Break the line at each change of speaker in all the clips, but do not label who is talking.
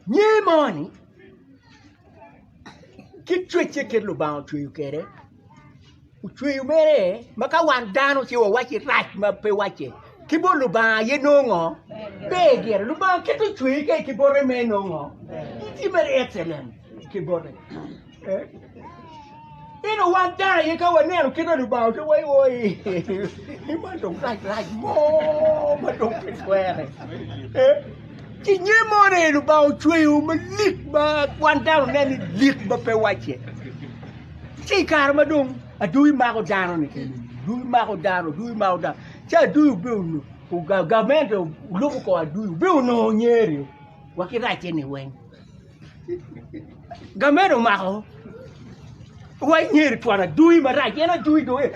Nge moni, kit cwecce kit Lubanga ocweyo kwede, ocweyo mere ma ka wan dano ci wawacci rac ma pe wacce, ki bot Lubanga aye nongo ngo? Ber gire. Lubanga kite ocweye ka ki bote mere nongo ngo? Tye mere excellent ki bote. Ento wan dano aye ka waneno kit ma Lubanga oketo wa iye oi, ni man dong rac rac mo ma dong pe twere. Eh, Ki nge mo ni Lubanga ocweyo malik ma wan dano nen ni lik ma pe wacce. Ci i kare ma dong adwogi mako dano ni kene, adwogi mako dano, adwogi mako dano. Ci adwogi obe ono- oga- gamente olubo kor adwogi, obe onongo nyeri wa ki racce ni weng. Gamed omako wa inyeri twon adui marac en adui dong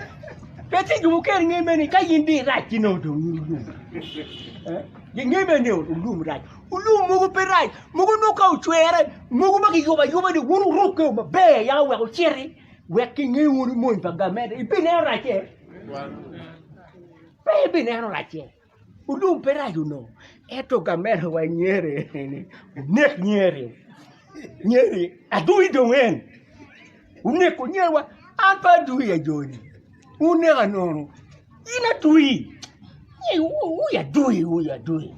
pe tye jo mukene nge mene ka in dong irac ki nongo dong in olum ginge bene ni olum rac olum mogo pe rac mogo nongo ka ocwere mogo ma kiyubo ayuba ni wun wurukke maber ya wek wuciti wek kinge wunu mony pa gamede ibineno racce? Pe ibineno racce. Ulum pe rac onongo, ento gamente wa Nyeri eni onek Nyeri, Nyeri adwogi dong en oneko Nyeri wa, an pe adwogi ajoni uneka nono in adwogi wu adwogi wu adwogi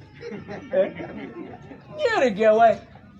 Nyeri gin aye.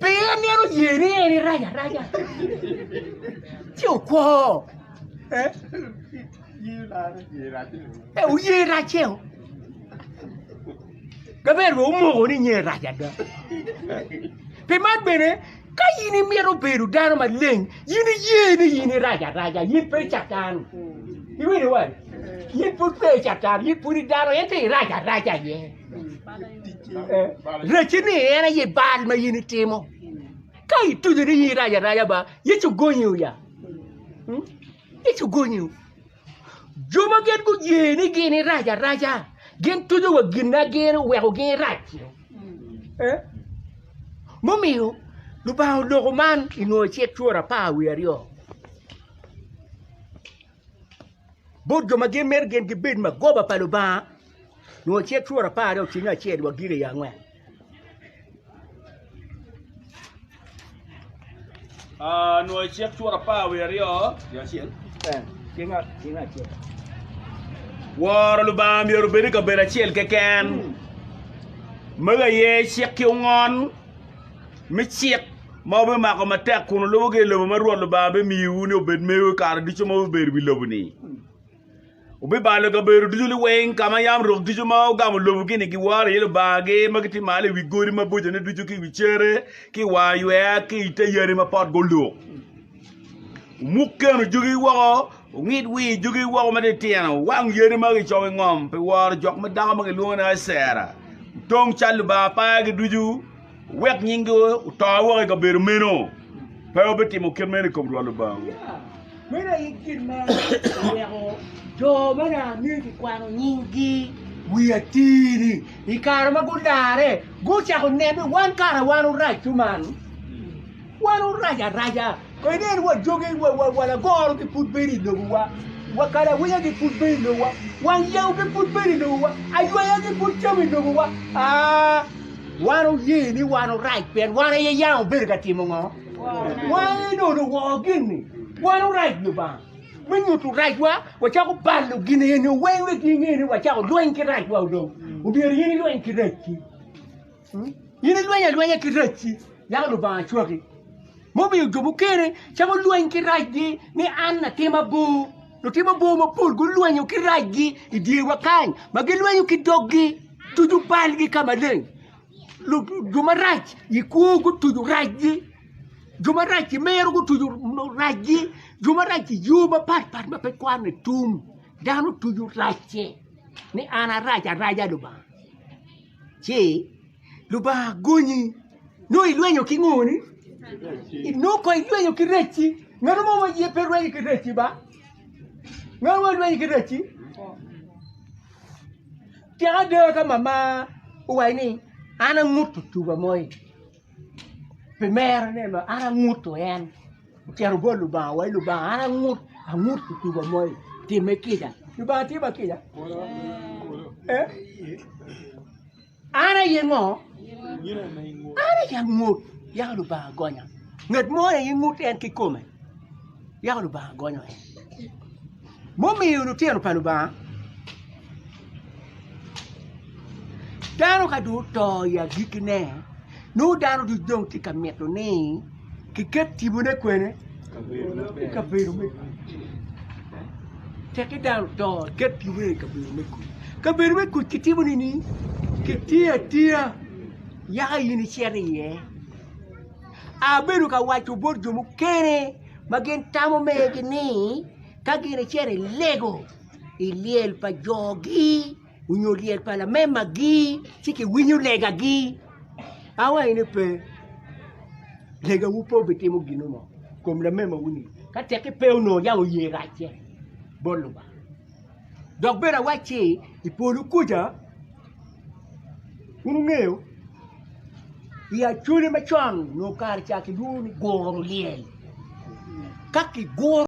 Pien en myero oye ni en irac araca, ci okwo. Eh, oye racceo. Gaber wa omoko ni nyen rac ada. Pi man bene, ka in imito bedo dano maleng, in iye ni in irac araca, in pe catan. Iwinyo wai? In pud pe catan, in pud i dano, ento irac araca iye. Rec ni en aye bal ma in itimo. Ka ituco ni in irac araca ba, Yecu gonyi ya. Hmm? Yecu gonyi. Jo ma gin guye ni gin irac araca, gin tuco wa gin na gin oweko gin irac. Eh? Mumiyo, Lubanga oloko man i nwoyo cik cwor apar wi aryo. Bot jo ma gin mito gin gibed magoba pa Lubanga, nyo ce tworo apar dong ocwiny acel wa gire i angwen Ah, nwa icek tworo apar wiye aryo nyo acel. Eh, tye ngat tye ngat acel
Woro Lubanga myero obed i kabedo acel keken. Mego aye cik ki ongon me cik ma wubimako matek kun wulubogi i lobo ma Rwot Lubanga bimiyowu ni obed mewu i kare ducu ma wubedo i wi lobo-ni. Wubibalo i kabedo ducu liweng ka ma yam rok ducu ma ogamo lobo-ni giworo iye lubangagi ma gitye malo i wi godi mabocone ducu ki i wi cere ki i wang aywer ki i te yadi ma potgi oluk. Wumuk keno jugi woko, wungid wir jugi woko matitino, wuwang yadi ma kicomo i ngom pi woro jok ma dako ma kilwongo ni Acera, wutong cal lubanga pagi ducu. Wek nyingi oto woko i kabedo meno, pe wubitimo kit meno i kom Rwot Lubangawu. Meno aye
gin ma oweko jo ma nanga myero kikwano nyinggi wi atir-ri. I kare ma gularre, gucako nene wan kara wan orac-cu man. Wan wurac araca, en en wa joge, wa, wa, wa lagoro gi pud bedo i lobowa, wa kalawinya gi pud bedo i lobowa, wang yewu gi pud bedo i lobowa, aywaya gi pud cam i lobowa. Aa, wan wuye ni wan wurac pien wan aye yam wubedo ka timo ngo? Wan aye nono woo gin-ni. Wan wurac Lubanga. Me nyuto racwa, wacako balo gin eni weng wek ginge ni wacako lweny ki racwa dong. Omyero in ilweny ki racci. In ilweny alwenya ki racci, yako Lubanga acwaki, mumiyo jo mukene camo lweny ki racgi ni an latim abor. Lutim abor mapol gulwenyo ki racgi i dyewa kany, ma gilwenyo ki doggi, tuco balgi ka maleng. Lu- Jo marac i kwo gutuco racgi, jo marac i mero gutuco racgi, jo marac i yo mapat pat ma pe kwanne tum, dano tuco racce ni an arac, araca Lubanga. ci Lubanga gonyi nongo ilwenyo ki ngo ni nongo kong ilwenyo ki rec-ci ngat mo ma aye pe rwenyo ki rec-ci ba ngat mo ilwenyo ki rec-ci cik ada ka mama owaco ni an angut tuba mo-ni. pi mero ne ma an angutu en ocito bot Lubanga wa Lubanga an angut angut kituba moi time kica Lubanga tye ma kica eh? an aye ngo an aye angut yako Lubanga gonya ngat mo aye ngut en kikome yako Lubanga gonyo en Mumiyo lutino pa Lubanga, dano ka dong oto i agikkine, nongo dano ducu dong tye ka mito ni kiket tibone kwene? I kabedo me kuc. Teki dano oto, iket tibone i kabedo me kuc. Kabedo me kuc kitimo nini? Kitiyo atiya, yaka in icito iye. Abedo ka waco bot jo mukene ma gin tamo megi ni, ka gin icito ilego i lyel pa jogi nyo lyel pa lamemagi ci kiwinyo legagi awaci ni pe legawu pe obitimo ginu mo kom lamemawuni ka tek ki pe onongo yam oye racce bot Lubanga dok bene awacci i polo kuca wun wungeyo i Acholi macon onongo kare ca kilwongo ni guro lyel ka kiguro